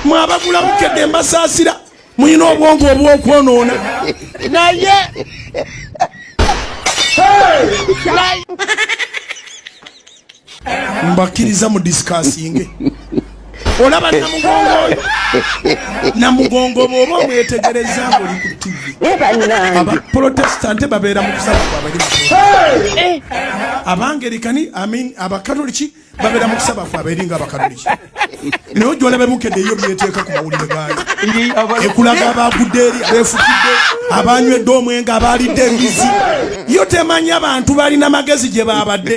mwabagula bukedde mbasaasira mulina obwongo obwokwonoona naye mbakkiriza mu disikasinge olaba namugongo oyo namugongo bwoba omwetegereza ngoli ku tivi abaprotestante babeera mu kusaba kwabali abangerikani amin abakatoliki babera mu kusaba kwabwe eri nga abakatoliki naye ojwala bebukedde eyo byeteeka ku mawulire gaayo ekulaga abagudde eri abefukidde abanywedde omwenge abaalidde embizi yo temanyi abantu balina magezi gye baabadde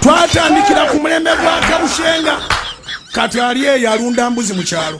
twatandikira ku mulembe gwa kabushenga kati ali eyo alunda mbuzi mu kyalo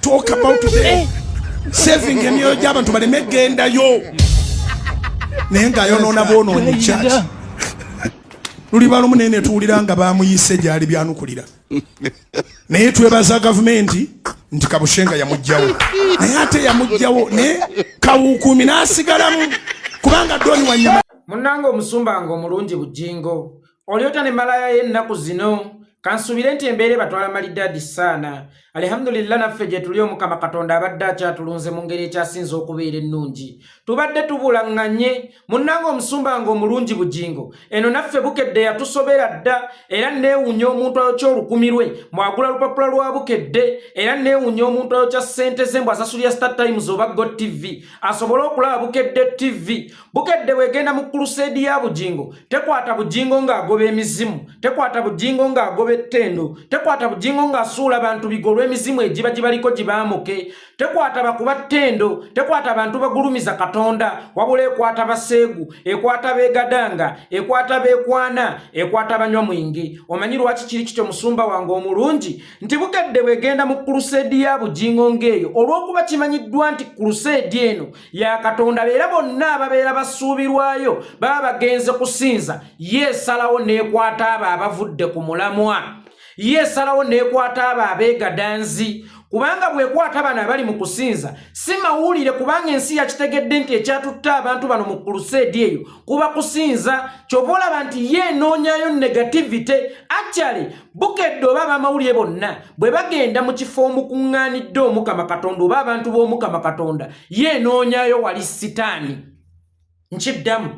talk about today saving emyoyo gy'abantu baleme gendayo naye ng'ayonoona boonoonyi church luliba lumu naye netuwulira nga bamuyise gyali byanukulira naye twebaza gavumenti nti kabushenga yamugjawo naye ate yamugjawo naye kawukuumi n'asigalamu kubanga doni wanyama munange omusumba nga omulungi bujingo olyota ne malaya ye ennaku zino kansuubire nti embeera ebatwala malidaadi saana alihamdulillah naffe gye tuli omukama katonda abadde akyatulunze mu ngeri ekyasinze okubeera ennungi tubadde tubulaŋŋanye munnanga omusumba nga omulungi bugingo eno naffe bukedde yatusobera dda era neewunya omuntu ayokya olukumi lwe mwagula lupapula lwa bukedde era neewunya omuntu ayokya ssente ze mbu asasulira star times oba go tv asobole okulaba bukedde tv bukedde bwegenda mu kuluseedi ya bugingo tekwata bugingo ng'agoba emizimu tekwata bugingo ng'agoba ettendo tekwata bugingo ng'asuula bantu bigo olw'emizimu egiba gibaliko gibaamuke tekwata bakuba ttendo tekwata abantu bagulumiza katonda wabula ekwata baseegu ekwata beegadanga ekwata beekwana ekwata banywa mwingi omanyi lwaki kiri kityo musumba wange omulungi nti bukedde bwegenda mu kuluseedi ya bugingo ng'eyo olw'okuba kimanyiddwa nti kuluseedi eno ya katonda beera bonna ababeera basuubirwayo baba bagenze kusinza ye esalawo n'ekwata abo abavudde ku mulamwa ye esalawo n'ekwata abo abeegadanzi kubanga bwekwata bano abali mu kusinza si mawulire kubanga ensi yakitegedde nti ekyatutte abantu bano mu kuluseedi eyo kuba kusinza kyova olaba nti ye enoonyayo negativity actually bukedde oba abamawulire bonna bwe bagenda mu kifo omukuŋŋaanidde omukama katonda oba abantu b'omukama katonda ye enoonyayo wali sitaani nkiddamu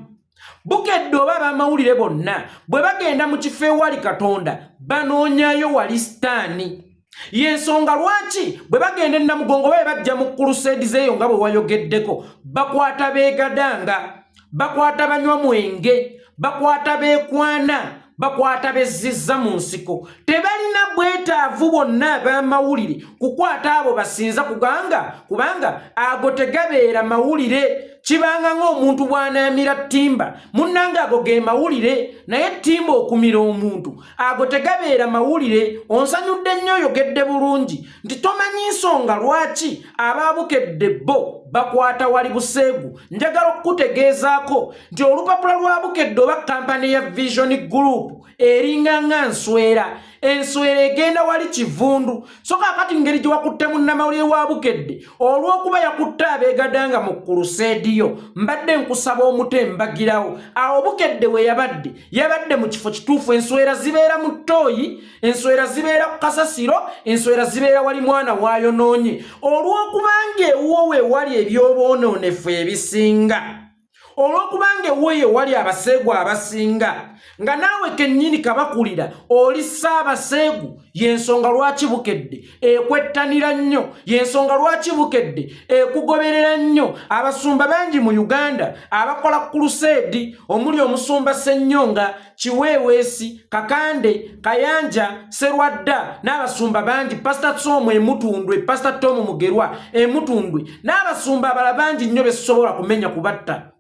bukedde oba abamawulire bonna bwe bagenda mu kifo ewali katonda banoonyayo wali sitaani yensonga lwaki bwe bagenda enamugongo baye bajja mu kuluseedi zeeyo nga bwe wayogeddeko bakwata beegadanga bakwata banywa mwenge bakwata bekwana bakwata bezzizza mu nsiko tebalina bwetaavu bonna ab'amawulire kukwata abo basinza kuganga kubanga ago tegabeera mawulire kibanga ng'omuntu bw'anaamira ttimba munnanga ago ge mawulire naye ttimba okumira omuntu ago tegabeera mawulire onsanyudde nnyo oyogedde bulungi nti tomanyi nsonga lwaki abaabukedde bo bakwata wali buseegu njagala okukutegeezaako nti olupapula lwa bukedde oba kampani ya vision group eringa nga nswera enswera egenda wali kivundu so kakati ngeri gye wakutte munnamawulire wa bukedde olw'okuba yakutte abeegadanga mu kuluseediyo mbadde nkusaba omuto embagirawo awo bukedde we yabadde yabadde mu kifo kituufu enswera zibeera mu ttooyi enswera zibeera ku kasasiro enswera zibeera wali mwana waayonoonye olw'okuba ng'ewuwo we wali eby'oboonoonefu ebisinga olw'okubanga ewooyo ewali abaseegu abasinga nga naawe kennyini kabakulira oli ssaabaseegu y'ensonga lwaki bukedde ekwettanira nnyo y'ensonga lwaki bukedde ekugoberera nnyo abasumba bangi mu uganda abakola kuluseedi omuli omusumba ssennyonga kiweeweesi kakande kayanja serwadda n'abasumba bangi pasita somu emutundwe pasita tomu mugerwa emutundwe n'abasumba abala bangi nnyo besobola kumenya kubatta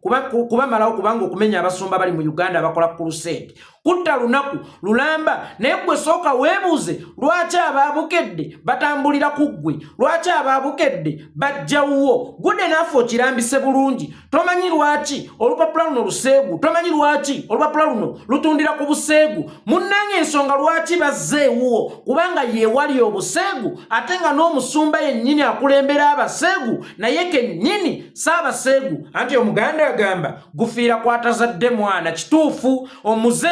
kubamalawo kubanga okumenya abasumba bali mu uganda abakola kuruseedi kutta lunaku lulamba naye gwe sooka weebuuze lwaki abaabukedde batambulira ku ggwe lwaki abaabukedde bajjawuwo gude naafe okirambise bulungi tomanyi lwaki olupapula luno luseegu tomanyi lwaki olupapula luno lutundira ku buseegu munnange ensonga lwaki bazze ewuwo kubanga yeewali obuseegu ate nga n'omusumba yennyini akulembera abaseegu naye kennyini saabaseegu anti omuganda agamba gufiira kwatazadde mwana kituufu omuze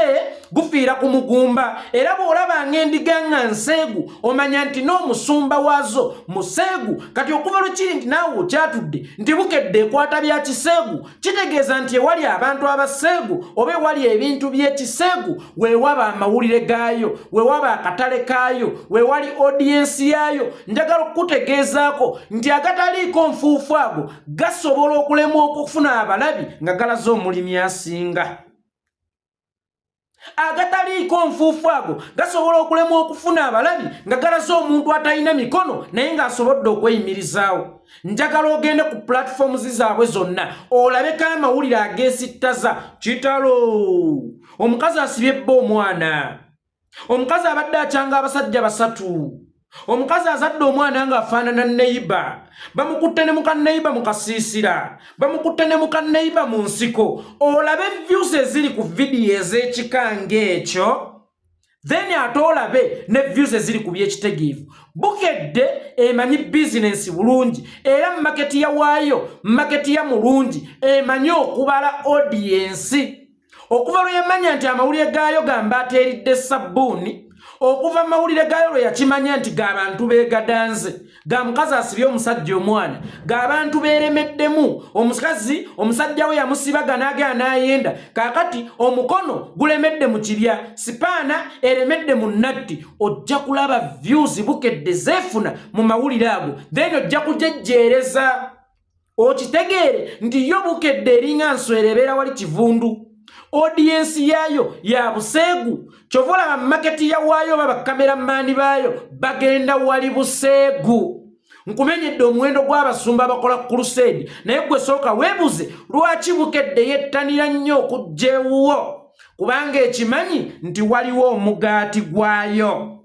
gufiira ku mugumba era bw'olaba ng'endiga nga nseegu omanya nti n'omusumba waazo museegu kati okuva lwe kiri nti naawe okyatudde nti bukedde ekwata bya kiseegu kitegeeza nti ewali abantu abaseegu oba ewali ebintu by'ekiseegu weewaba amawulire gaayo weewaba akatale kaayo weewali odiyensi yaayo njagala okukutegeezaako nti agataliiko nfuufu ago gasobola okulemwa okufuna abalabi nga galaze omulimi asinga agataliiko nfuufu ago gasobola okulemwa okufuna abalabi nga galaze omuntu atalina mikono naye ng'asobodde okweyimirizaawo njagala ogende ku pulatifoomu zi zaabwe zonna olabeko amawulire ageesittaza kitalo omukazi asibye bba omwana omukazi abadde akyanga abasajja basatu omukazi azadde omwana nga afaanana neyiba bamukutte ne mukanneyiba mu kasiisira bamukutte ne mukanneyiba mu nsiko olabe vyusi eziri ku vidiyo ez'ekika ng'ekyo then ate olabe ne vyusi eziri ku byekitegeevu bukedde emanyi bizinensi bulungi era mu maketi ya waayo maketi ya mulungi emanyi okubala odiyensi okuva lwe yamanya nti amawulire gaayo gamba ateeridde sabbuuni okuva amawulire gaayo lwe yakimanya nti g'abantu beegadanze ga mukazi asibye omusajja omwana g'abantu beeremeddemu omukazi omusajja we yamusibaga n'agea n'ayenda kaakati omukono gulemedde mu kibya sipaana eremedde mu natti ojja kulaba vyuzi bukedde zeefuna mu mawulire ago then ojja kujejjeereza okitegeere nti yo bukedde eringa nswera ebeera wali kivundu odiyensi yaayo ya buseegu kyova olaba maketi yawaayo oba bakamera maani baayo bagenda wali buseegu nkumenyedde omuwendo gw'abasumba abakola ku kuluseedi naye gwe sooka weebuze lwaki bukedde yettanira nnyo okujja ewuwo kubanga ekimanyi nti waliwo omugaati gwayo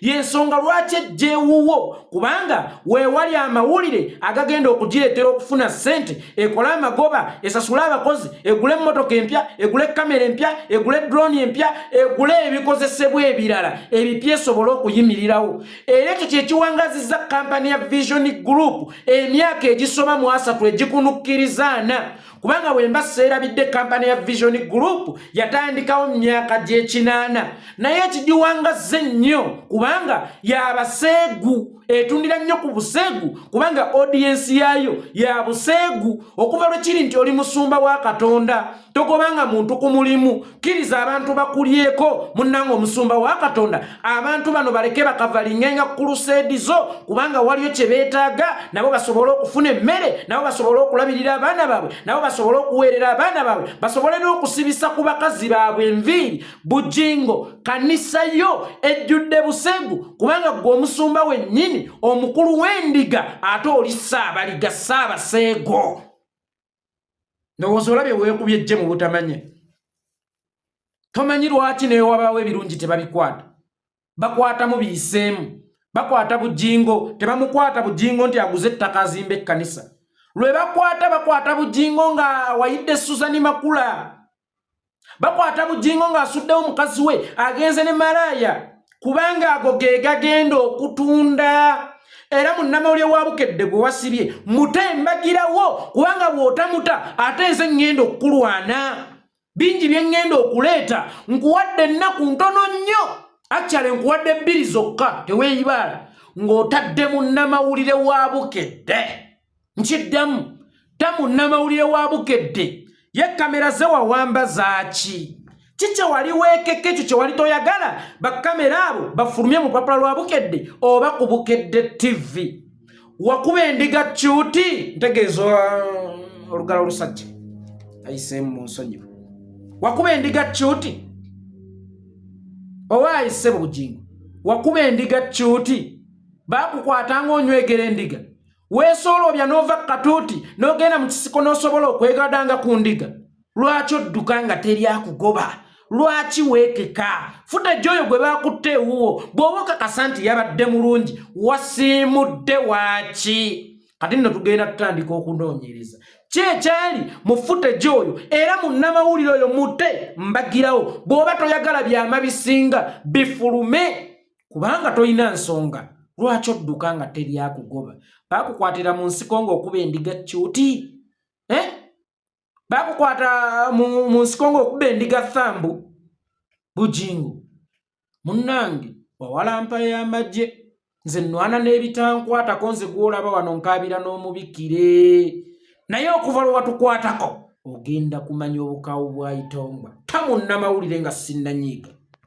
yensonga lwaki ejjeewuwo kubanga weewali amawulire agagenda okugireetera okufuna ssente ekole amagoba esasule abakozi egule emmotoka empya egule kamera empya egule droni empya egule ebikozesebwa ebirala ebipya esobole okuyimirirawo era ekyo kyekiwangaziza kampani ya vision group emyaka egisoma mu asatu egikunukkirizaana kubanga wemba seerabidde kampani ya vision group yatandikawo myaka gyekinaana naye ekigiwangazze nnyo kubanga yabaseegu etundira nnyo ku buseegu kubanga odiyensi yaayo ya buseegu okuva lwe kiri nti oli musumba wa katonda togobanga muntu ku mulimu kkiriza abantu bakulyeko munnanga omusumba wa katonda abantu bano baleke bakavalingenga ku kuluseedi zo kubanga waliyo kye beetaaga nabo basobole okufuna emmere nabo basobole okulabirira abaana baabwe nabo basobole okuweerera abaana baabwe basobole n'okusibisa ku bakazi baabwe enviiri bujingo kanisa yo ejjudde busegu kubanga ggwe omusumba wennyini omukulu w'endiga ate oli saabaliga saabaseego ndowooza olabye weekubye jje mu butamanye tomanyi lwaki newabaawo ebirungi tebabikwata bakwatamu biyiseemu bakwata bujingo tebamukwata bujingo nti aguze ettaka azimba ekkanisa lwe bakwata bakwata bujingo nga wayidde susani makula bakwata bujingo ng'asuddewo mukazi we agenze ne malaaya kubanga ago ge gagenda okutunda era munnamawulire wa bukedde gwe wasibye mute mbagirawo kubanga bw'otamuta ate nze ŋŋenda okukulwana bingi bye ŋŋenda okuleeta nkuwadde ennaku ntono nnyo akyale nkuwadde bbiri zokka teweeyibaala ng'otadde munnamawulire wa bukedde nkiddamu tamu namawulire wa bukedde ye kamera zewawamba zaaki ki kyewali weekeka ekyo kyewali toyagala bakamera abo bafulumye mu papula lwa bukedde oba ku bukedde ttivi wakuba endiga kyuti ntegeeza uh, olugalo olusajja ayiseemu mu nsonyi wakuba endiga kyuti owa ayise bugingo wakuba endiga kyuti bakukwata ngaonywegera endiga weesooloobya n'ova ku katuuti n'ogenda mu kisiko n'osobola okwegadanga ku ndiga lwaki odduka nga teri akugoba lwaki weekeka futa ejjooyo gwe baakutte ewuwo bw'oba okakasa nti yabadde mulungi wasiimudde waaki kati nno tugenda tutandika okunoonyereza kyekyali mufute gyoyo era munnamawulire oyo mute mbagirawo bw'oba toyagala byama bisinga bifulume kubanga tolina nsonga lwaki odduka nga teri akugoba bakukwatira mu nsiko ng'okuba endiga cuti eh? bakukwata mu nsiko ng'okuba endiga thambu bujingo munnange wawalampa y'amagye nze nnwana n'ebitankwatako nze gw'olaba wano nkaabira n'omubikire naye okuva lwe watukwatako ogenda kumanya obukaawu bwa itongwa tamunnamawulire nga sinnanyiiga